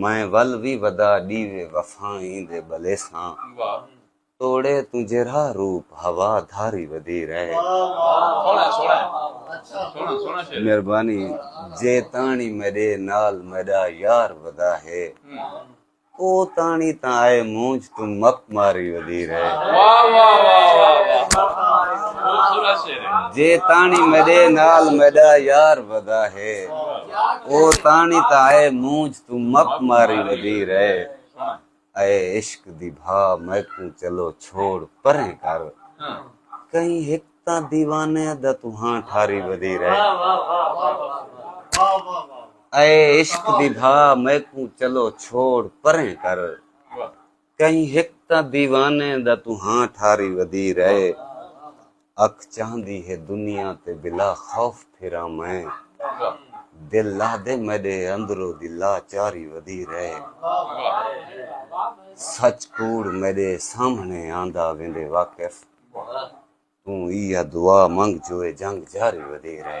میں ول وی ودا ڈیوے وفائیں دے بلیساں توڑے توں جیرھا روپ ہوا دھاری ودی رہے۔ مہربانی جے تاݨی میݙے نال میݙا یار ودا ہے او تاݨی تاں آئے مونجھ توں مپ ماری وزیر ہے واہ واہ واہ واہ جے تانی میڈے نال میڈا یار ودا ہے او تانی تا اے مونج تو مپ ماری ودی رہے اے عشق دی بھا میں کو چلو چھوڑ پریں کر کہیں ہک تا دیوانے دا تو ہاں ٹھاری ودی رہے اے عشق دی بھا میں کو چلو چھوڑ پریں کر کہیں ہک تاں دیوانے دا توں ہاں ٹھاری ودیر اے اکھ چاہندی ہے دنیا تے بلا خوف پھراں میں دل لہدے میڈے اندرو دی لا چاری ودیر اے سچ کوڑ میڈے سامھنے آندا ویندے واقف توں ایہا دعا منگ جوئے جنگ جاری ودیر اے